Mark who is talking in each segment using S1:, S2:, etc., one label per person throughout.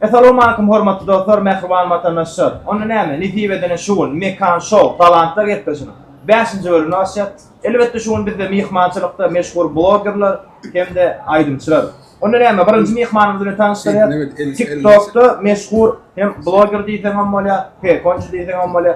S1: Essalawmaleýkum hormatly dostlar, mähriban watandaşlar. Onda näme? Nesip edene şu gün Mekan Show talantlar gepleşiginiň 5-nji bölümini açýar. Elbetde şu gün bizde myhmançylykda meşhur blogerler hem-de aýdymçylar. Onda näme? Birinji myhmanymyz bilen tanyşdyrýar. TikTokda meşhur hem bloger diýseň hem bolýar, pekonçy diýseň hem bolýar.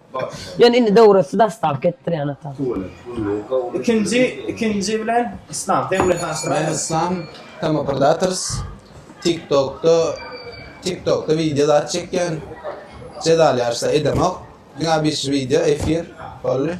S1: Ýöne indi döwresi daşdalk etdirýän ata. Ikinji ikinji bilen islam döwlet aşyraýda. Men islam Kamaprdators tik tokda tik tokda wideo zat çekýän jezal ýaryşda edemok diňe bir şu wideo efir boldy.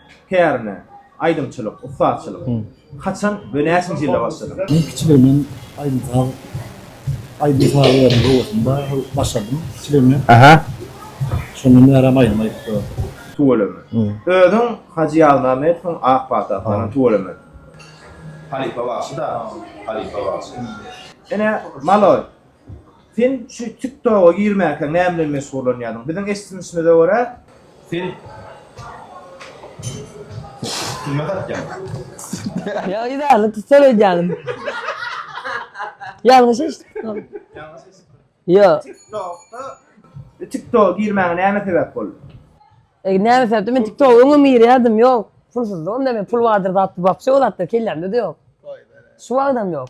S1: Hernä, aýdymçylyk, ussatçylyk. Haçan we näçinji ýylda başladyň? Men kiçiligimden aýdym saz, aýdym saz ýeriň howasynda başladym kiçiligimden. Aha. Şondan bäri hem aýdym aýdyp ýörün. Tüweleme. Özüň Hajy Ýazmämmedowyň ak pata atlanan tüweleme. Halypa bagşy da, halypa bagşy. Ene, maloý! Sen şu tik toga girmäkäň näme bilen meşgullanýardyň? Biziň eşdinişimize görä. Sen türme satýaň. Ýa yzarly tutsal edýäňiz. Ýalňyş eşitipsiňiz. Ýalňyş eşitdim. Ýo. Tik tokda tik toga girmäňe näme sebäp boldy? E näme sebäpden men tik toga öňem girýärdim ýok. Pulsyzlygym da men pul bardyr zat wapşe o zatlar kellämde-de ýok. Şu wagtam ýok.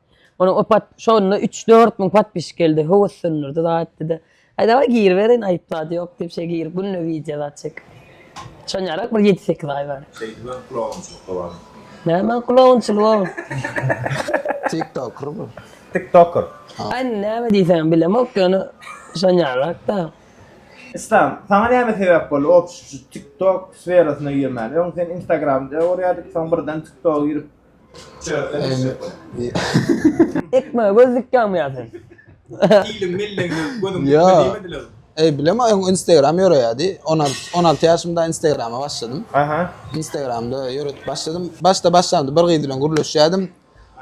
S1: Onuň o pat şonda 3-4 müň patpişik geldi. Höwes söndürdi zaýtdy-da. Aý dawaý giriberin, aýyp zat ýok diýip şeý girip günde wideo zat çek. Çonýarak bir ýedi-sekiz aý bar. Şeýdibem kulagunçylykda bar. Näme kulagunçylyk o? Tiktoker bu. Tiktoker. Aý näme diýseňem bilemok ýöne şonýarak-da. Islam, saňa näme sebäp boldy opşt şu TikTok sferasyna girmäne? Öň sen Instagramda görýärdik, soň birden TikToga girip, Ekme göz dikýäňmi ýa sen? Ilim millim gözüm diýmediler. Ey bilem aýyň Instagram ýöreýärdi. 16 16 ýaşymda Instagrama başladym. Aha. Instagramda ýöretip başladym. Başda başlamda bir gyz bilen gürleşýärdim.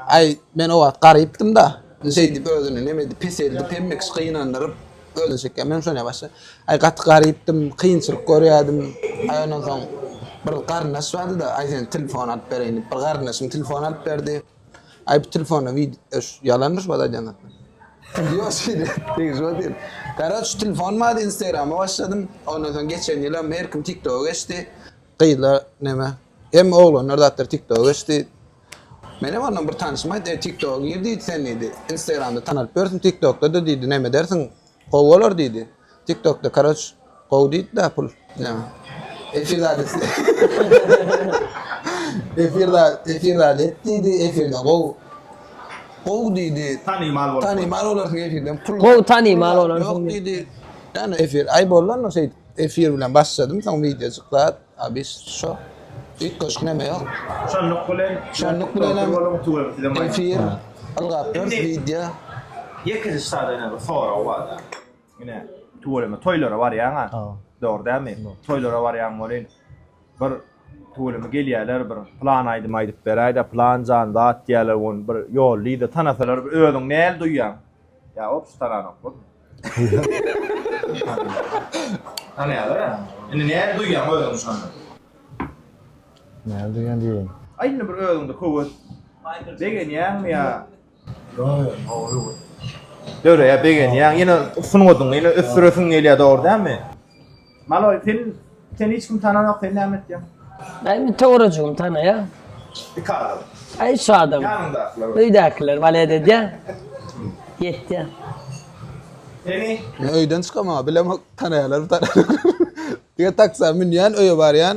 S1: Aý men o wagt garypdym da. Şeýdip özüni neme edip peseldip hemme kişi gynandyryp özüni çekýär. Men şonýa başda aý gaty garypdym, kynçylyk görýärdim. Aý ondan soň bir garyndaş bardy-da, aý seniň telefony alyp bereýin diýip bir garyndaşyň telefony alyp berdi. Aý bu telefonda wi öş ýalanmyş wada aýdýan zatlar. Ýok şeýle degişip otyr. Karoç telefon bardy, instagrama başladym. Ondan soň geçen ýylam her kim tiktoga geçdi. Gyzlar neme? Hemme oglanlar zatlar tiktoga geçdi. Menem ondan bir tanyşym aýtdy, tiktoga gir diýdi sen diýdi, instagramda tanalyp ýörsün, tiktokda-da diýdi neme edersiň, gowy bolar diýdi. Tiktokda karoç gowy diýdi-de pul. Neme? Efir zat et. Efir zat, efir zat et diýdi, efirde gowy, gowy diýdi. Tanymal bolarsyň. Tanymal bolarsyň efirden pul. Gowy tanymal bolarsyň. Ýok diýdi. Ýa efir, aý bollanok şeýdip. Efir bilen başladym soň wideo çyklat abis şo ilk goşgy neme ýok. Şonluk bilen şonluk bilenem efir ylgap dur wideo. Ýekeje sada ýene bir sorag barda. Ine tüweleme toýlara barýaňa dogry dälmi toýlara barýaň welin bir tüweleme gelýäler bir plan aýdym aýdyp beräýdä plan jan zat diýýäler ony bir ýollyda tanasalar bir özüňi näl duýýaň ýa wopşe tananok bolma. Tanaýarlar a. Indi näme duýýaň özüňi şonda? Näme duýýan diýeýin. Aý indi bir özüňde höwes. Begenýäňmi ýa? Döreýär begenýäň ýene sungatyňy ýene ösdüresiň gelýär dogry dälmi? Maloy sen seni hiç kim tananok sen näme etýäň? Ay bir töwerejigim tanaýa. Iki adam. Ay şu adam. Ýanyndakylar. Öýdäkiler balet edýär. Ýetýär. Seni Men öýden çykamam, bilemok tanaýarlar tanaýarlar. Diňe taksa münýän, öýe barýan.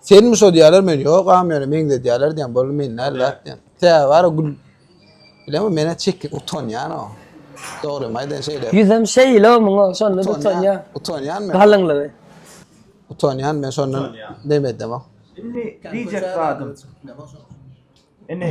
S1: Senmi şo diýýärler men ýogam ýöne meňzedýärler diýýän boldy men näl zat diýýän. Sebäbi bara gül bilemok menä çekin utanýan o. Dogrymy aýdaýyn şeýle. Ýüzem şeýle muňa şonda utanýan. Utanýan men. Galyňlygy. Utanýan men şondan demedemok. Indi diýjek zadym. Indi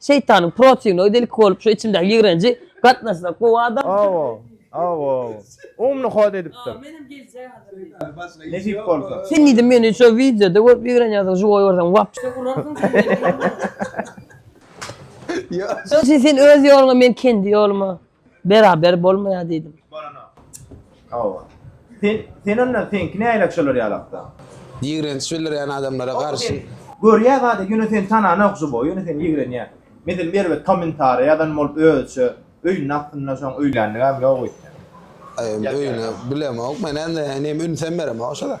S1: Şeýtanyň protinnoý delki bolup şu içimdäki ýigrenji gatnaşsak gowy adam. Awo. Awo. Umny hod edipdir. Menem geljek hazir. Nesip bolsa. Sen diýdim meni şo wideoda görüp ýigrenýärsiň şu goýy görseň wap. Şo urarsyň sen meni. Ýa. Şo sen öz ýoluňa men kendi ýoluma. Beraber bolmaýar diýdim. Bolana. Hawa. Sen, sen onda seňki nähili şolar ýaly hakda? Ýigrenç bildirýän adamlara garşy. Görýä zady ýöne seni tananok žubo ýöne seni ýigrenýä. Meselem bir erbet kommentariýa ýazan bolup özüçe öýüniň astynda şoň öýländigäm ýok öýtýän. Öýüne bilemok men indi inim ünsem beremok şo zat.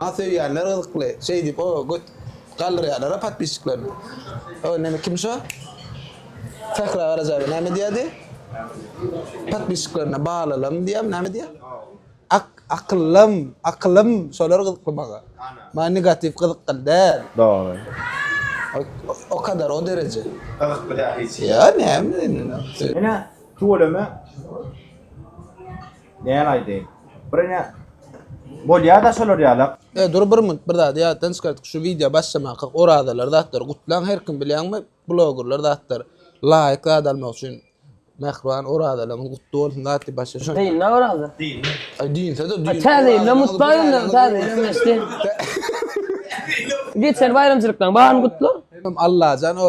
S1: Maňa söýýänler gyzykly şeýdip o göt galdyrýarlara podpisçiklerini. O näme kim şo? Sähra Garajaýewa näme diýýärdi? Podpisçiklerine balalym diýýärmi näme diýýär? Ak akylym akylym şolar gyzykly maňa. Maňa negatiw gyzykly däl. Dogry. O kadar o dereje. Gyzykly däl hiç. Ýa näme indi. Ene tüweleme. Näme aýdaýyn. Birine bolýada şolar ýala. E dur bir minut bir zady ýatdan çykardyk şu wideo başlamakak orazalar zatlar gutlaň her kim bilýäňmi blogerler zatlar laýk zat almak üçin Mähriban orazalaryňyz gutly bolsun zat diýip başla şo. Dynna oraza. Dynna. Dynsa da düýn. Täze ýyl bilen mutlu aýdymlar täze ýyl geçdi. Geçen baýramçylyklaň baryny gutla. Allajan o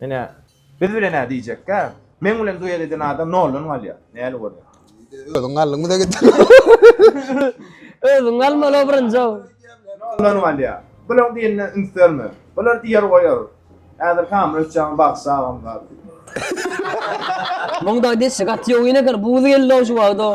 S1: Ine, biz bilen-ä diýjekkä, meň bilen duet eden adam noldan galýar. Näli bolýar? Özüň galdyň bize gitdiň. Özüň galmaly birinji-ow. Noldan galýar. Bulaň diýenine üns berme. Bular diýer goýar. Häzir Samyr Öçjagam bagşy agam bar. Muň dagy deşi gaty ýowyn eken, buz geldi-ow şu wagt-ow.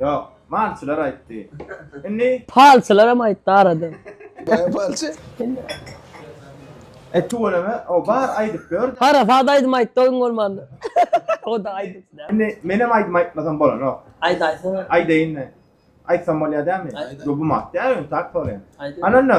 S1: Ýok, malçylar aýtdy. Indi. Palçylaram aýtdy aradan. Baýam palçy. E tüweleme, o bar aýdyp ýör. Harasat aýdym aýtdy o gün bolmanda. O-da aýdypdy dä. Indi menem aýdym aýtmasam bolanok. Aýt aýtsana. Aýdaýynmy? Aýtsam bolýar dämi? Aýt aýt. Ýok bu mat däl öň tak soraýan. Aýt. Ananna.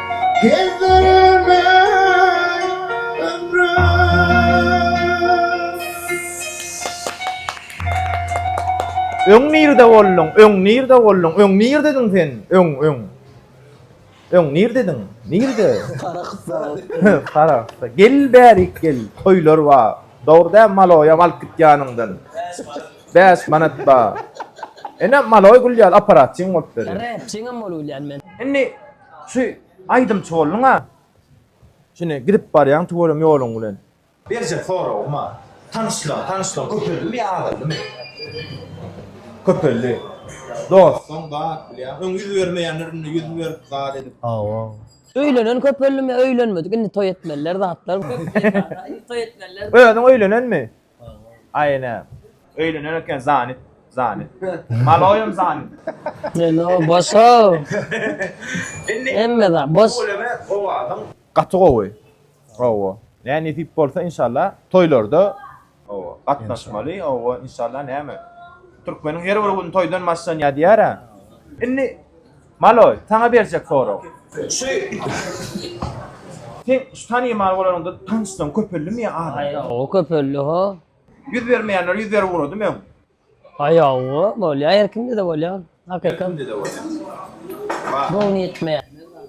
S1: Gezdirme ömrüm Öň nirde bolduň, öň nirde bolduň, öň nirdediň sen, öň, öň. Öň nirdediň, nirde? Karakda. Karakda. Gel bärik gel, toýlar ba. Dogry dä maloýam alyp git ýanyňdan. Bäş manat ba. Ene maloý gülýär, operasyň bolup ber. Repçiňem bolup gülýän men. Indi Şu aýdymçy bolduň-a. Şine gidip barýaň tüweleme ýoluň bilen. Berjek soragym-a. Tanyşlygyň, tanyşlygyň köpeldimi ýa azaldymy? Köpeldi. Dostuň bar, bilýän. Öň ýüz bermeýänler indi ýüz berip, zat edip. Hawa. Öýlenen köpeldimi ýa öýlenmedik, indi toý etmeliler zatlar. Köp ýer bar-a, indi toý etmeliler. Özüň öýlenenmi? Aýne. Öýlener eken zanit zanit. Maloýym zanit. Ýene bosaw. Hemme zat bos. Gaty gowy. Hawa. Nä nesip bolsa inşallah toýlarda hawa gatnaşmaly hawa inşallah näme. Türkmeniň her bir güni toýdan başlanýar diýýär-ä. Indi Maloý, saňa berjek sorag. Şu Sen şu tanymal bolanyňda tanyşlaň köpeldimi ýa azaldy? Hawa köpeldi ha. Ýüz bermeýänler ýüz berip ugradymy öň? Haýawa bolýar her kimde-de bolýar. Hakykat. Kimde de bolýar. Göwni ýetmeýän.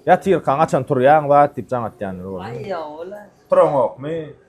S1: Ýatyrkaň açan turýaň zat diýip jaň atýanlar boldy. Haýawa la. Turaňokmy?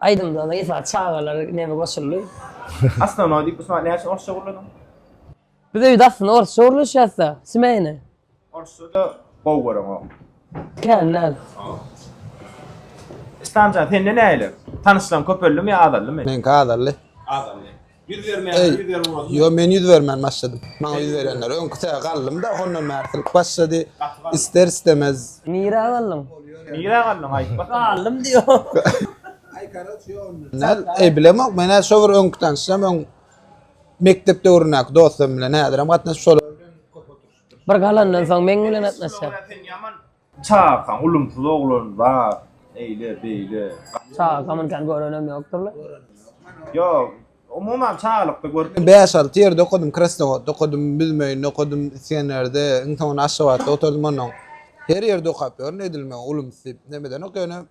S1: Aýdymda da Ysa çagalar nemi goşuldy. Asnanoý diýip bu sany näçe orsça gurladyň? Biz öýde aslynda orsça gurlaşýasda, smeýne. Orsça-da gowy göreňok. Kän däl. Islamjan, sende nähili? Tanyşlaň köpeldimi ýa azaldymy? Meňki azaldy. Azaldy. Ýüz bermeýän, Eý, ýüz berip ugradyň. Ýo, men ýüz bermän başladym. Maňa ýüz berýänler öňki sähe galdym-da, hondan bäri silip başlady. Ister-istemez. Nirä galdyň? Nirä galdyň, aýt bak. Galdym diýýär. Näl, eý, bilemok, men-ä şo bir öňki tanyşym, öň mekdep döwründäki dostum bilen häzirem gatnaşyp şolar. Bir galandan soň meň bilen gatnaşýar. Sen ýaman Çagaň ulumsyz oglan bar, eýle, beýle. Çaga gamynkan görenem ýokdur-la. Ýok, umuman çagalykda görüp. Men bäş-alty ýerde okadym, Krasnowodda okadym, Büzmeýinde okadym, Isgenerde, iň soňunda Aşgabatda oturdym onnoň. Her ýerde okap ýörün, edil men ulumsy diýip, nämeden okaýan, ýöne.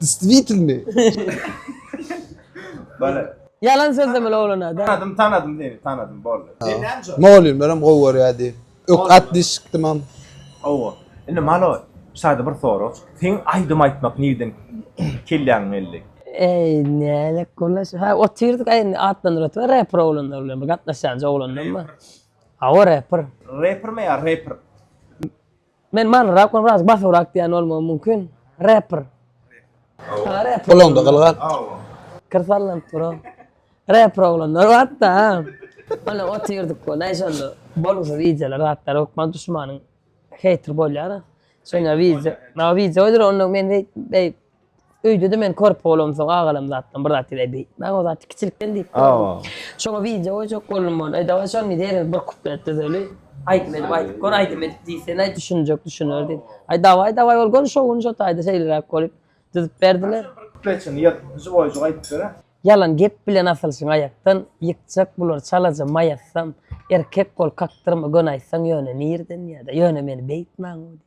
S1: Distwitelny. Bale. Ýalan sözlemeli oglana da. Tanadym tanadym seni tanadym boldy. Sen näme jogap. Mugallymlaram gowy görýär diýip. Ökde at diýip çykdymam. Hawa. Indi Malo sada bir sorag. Seň aýdym aýtmak nirden kelläňe geldi? Eý nälet gurnaş. Ha otyrdyk aý indi atlandyryp otyrlar reper oglanlar bilen bir gatnaşýanjy oglandan bar. Hawa reper. Reper mi ýa reper? Men manyrak we biraz basybyrak diýen bolmagym mümkin. Rapper. Aa rapper. Gulaňda gylgat. Kir sallanyp dur o. Rapper oglanlar batda. Ana otyrdyk we näçe onda bolgusyz wideolar zatlar hökman duşmanyň heýter bolýar. Şonda wideo, na wideo goýdur onda men beýik Öýde-de men körpe bolamsoň agalam zatdan bir zat diýdi. Beýtmäň, o zat kiçilikden diýip Awa. Şoňa wideo goýjak boldum ony. E, dawaý şony diýeris, bir kuplet düzeli. Aýdym edip aýdyp gör, aýdym edip diýsen, aý düşünjek düşüner diýdi. Aý dawaý, dawaý ol göni şo gün şo taýda şeýleräk bolup düzüp berdiler. Kupletini ýyk, žiwoýjyk aýdyp ber-ä. Ýalan gep bilen asylşyň aýakdan, ýykjak bular çalaja maý atsam, erkek bol kakdyrma göni aýtsaň ýöne nirden ýa-da ýöne meni beýtmäň-ow diýip.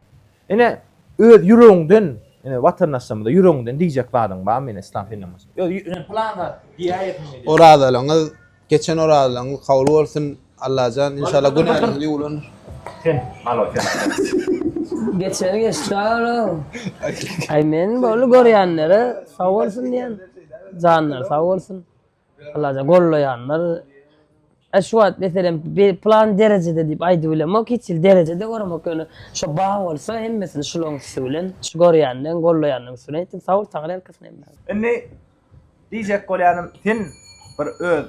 S1: Ine, öz ýüregiňden, ine, watandaşlarymyza ýüregiňden diýjek zadyň barmy, ine, yslam dinden başga? Öz ýü, ine, pylan zat diýäýer diýmek ýaly. Orazalygyňyz, geçen orazalygyňyz kabul bolsun, Allajan, inşallah, günäňiz ýuwlandyr. Sen, malo, sen. Geçeni geçdi, sag-ol-ow. Aý, men boldy görýänlere sag bolsun diýen. Janlary sag bolsun. Allajan gollaýanlar e şu wagt meselem plan derejede diýip aýdyp bilemok hiç hil derejede göremok ýöne şo bar bolsa hemmesini şulaň üsti bilen şu görýänleň gollaýanlaň üsti bilen etdim sagbol tagal herkesine hemme. Indi diýjek bolýanym sen bir öz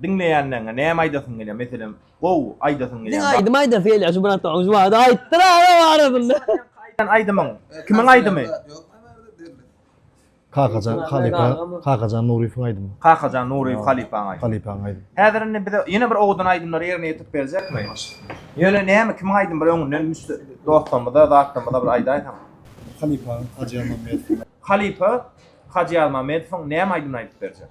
S1: diňleýänleňe näme aýdasyň gelýär meselem gowy aýdasyň gelýär. Diňe aýdym aýdasy gelýär şu bratom şu wagt aýtdyr agam arasynda. Aýdan aýdymyň kimiň aýdymy? Kakajan halypa, Kakajan Nuryýewiň aýdymy. Kakajan Nuryýew halypaň aýdymy. Halypaň aýdymy. Häzir indi bize ýene bir owadan aýdymlary ýerine ýetirip berjekmi? Ýöne näme, kimiň aýdymy bir öňünden dostlarymyza, zatlarymyza bir aýdaýsaň. Halypaň, Hajy Ýazmammedowyň. Halypa Hajy Ýazmammedowyň näme aýdymyny aýdyp berjek?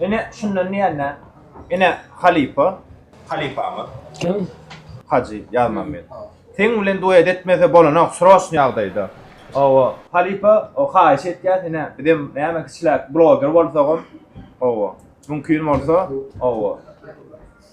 S1: Ine, şundan diýende, ine, halypa. Halypamyz. Kim? Hajy Ýazmammet. Seň bilen duet etmese bolanok, sroçny ýagdaýda. Hawa, halypa, haýyş etýäs, ine, bizem näme kiçiläk bloger bolsagam, hawa, mümkin bolsa, hawa.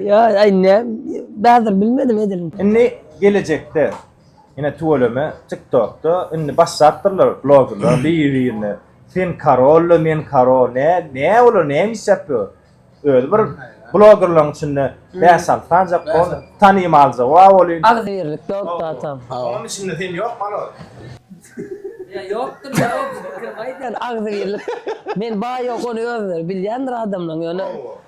S1: Ya ay ne bazır bilmedim edelim. Indi gelejekde ine tüweleme TikTokda indi başlapdyrlar bloggerlar bir-birine sen karolla men karo ne ne olar näme iş ýapýar? Özi bir bloggerlaryň içinde bäş alty sanja kon tanymalja wa bolýun. Agzybirlik ýok da tam. Onuň içinde sen ýok malol. Ya ýokdur ya o bir pikir aýdýan agzybirlik men baý ýok ony özleri bilýändir adamlaryň ýöne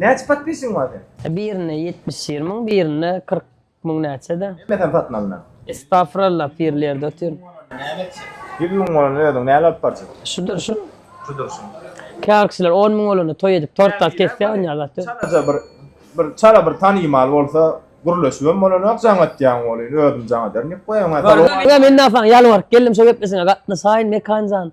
S1: Näçe podpisiň bar seň? Birinde ýetmiş ýer müň birinde kyrk müň näçede. Hemme sen satyn alnan. Estafralla pirli ýerde otyr. Näme etjek? Ýüz müň bolan özüň näle alyp barjak? Şudur şu. Şudur şu. Käbir kişiler on müň bolanda toý edip tort alyp kesýär on ýaly zat. Çalaja bir bir çala bir tanymal bolsa gürleşibem bolanok jaň etýäň bolyn özüm jaň ederin diýip goýaň. Ýa men dagy saňa ýalbaryp geldim şo geplesiňe gatnaşaýyn Mekanjan.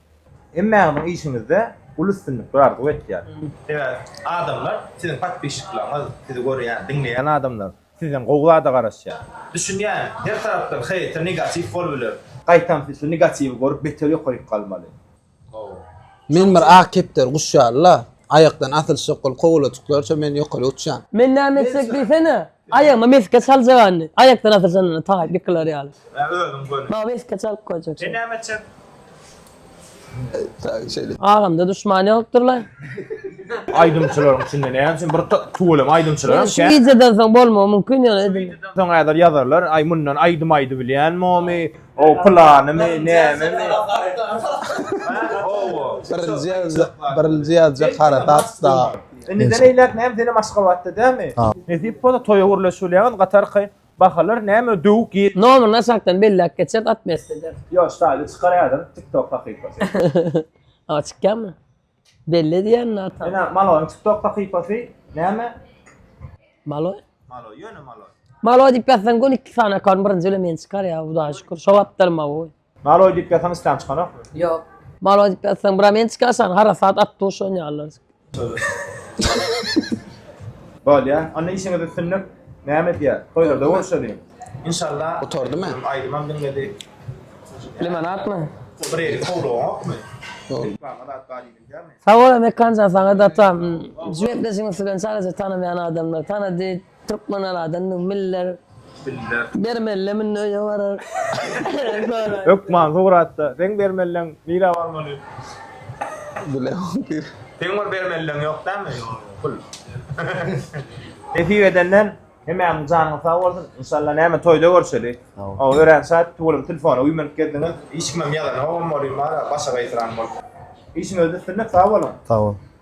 S1: Hemmäňiziň işiňizde uly üstünlikler arzuw etýän. Sebäbi adamlar siziň podpişiklaryňyz, sizi görýän, diňleýän adamlar sizden gowy zada garaşýar. Düşünýän her tarapdan heýter negatiw bol biler. Gaýtam siz şu negatiwi görüp beter ýokaryk galmaly. Men bir ak kepder guş ýaly la. Aýakdan asylşyk ol kowalajyklarça men ýokary uçýan. Men näme etsek diýsene. Aýagyma mesge çaljak indi. Aýakdan asyr janynda tagap ýykylar ýaly. Ä özüň göni. Maňa mesge çalyp goýjak. Sen näme etjek? Taýy şeýle. Agamda duşman ýokdur la. Aýdymçylaryň içinde näme üçin bir tüweleme aýdymçylar hem kän. Şu wideodan soň bolmagy mumkin ýöne edil. Soň häzir ýazarlar aý mundan aýdym aýdybilýänmomy, o planymy, nämemi. Birinji ýazjak harasat da. Indiden eýläk näme senem Aşgabatda dämi? Nesip bolsa toýa gürleşilýäňiz gatarka bahalar näme döwük ýer. Nomyryny aşakdan belläp geçer otmesd eder. Ýok ştaýly çykar ýazyň tiktok sahypasy. Aga çykýamy? Belli edýän nä ata. Ene Maloň tiktok sahypasy näme? Maloý? Maloý ýöne maloý. Maloý diýip ýazsaň göni iki sany akaunt birinji bilen men çykar ýa hudaýa şükür şo wagtlar maoý. Maloý diýip ýasaň isläň çykanok. Ýok. Maloý diýip ýasaň bura men çykaşan harasat at duşan ýalylar. Bolýa. Onda işiňiz üstünlik. Näme edýä? Toýlarda görşeliň. Inşalla. Gutardymy? Aýdymam diňledi. Limonadmy? Bir eli kowlugokmy? Reklama zat bar diýilýärmi? Sag bol Mekanjan saňa datam. Jüwetleşigiň üsti bilen çalaja tanamaýan adamlar tanady. Türkmen aladan müň miller. Bermelle münde öýe barar. Sonra. Hökman Sugratda. Seň bermelleň nirä barmaly? Bilemok pir. Seň bir bermelleň ýok dämi? Pul. Nesip edenden hemämiň janyňyz sag bolsun. Inşallah näme toýda görşeli. Hawa örän şat. Tugulyň telefona uýmanyp geldiňiz. Hiç kimem ýazanogam bolýa bar-a başagaýsyran bolup. Işiňizde üstünlik sag boluň. Sag bol.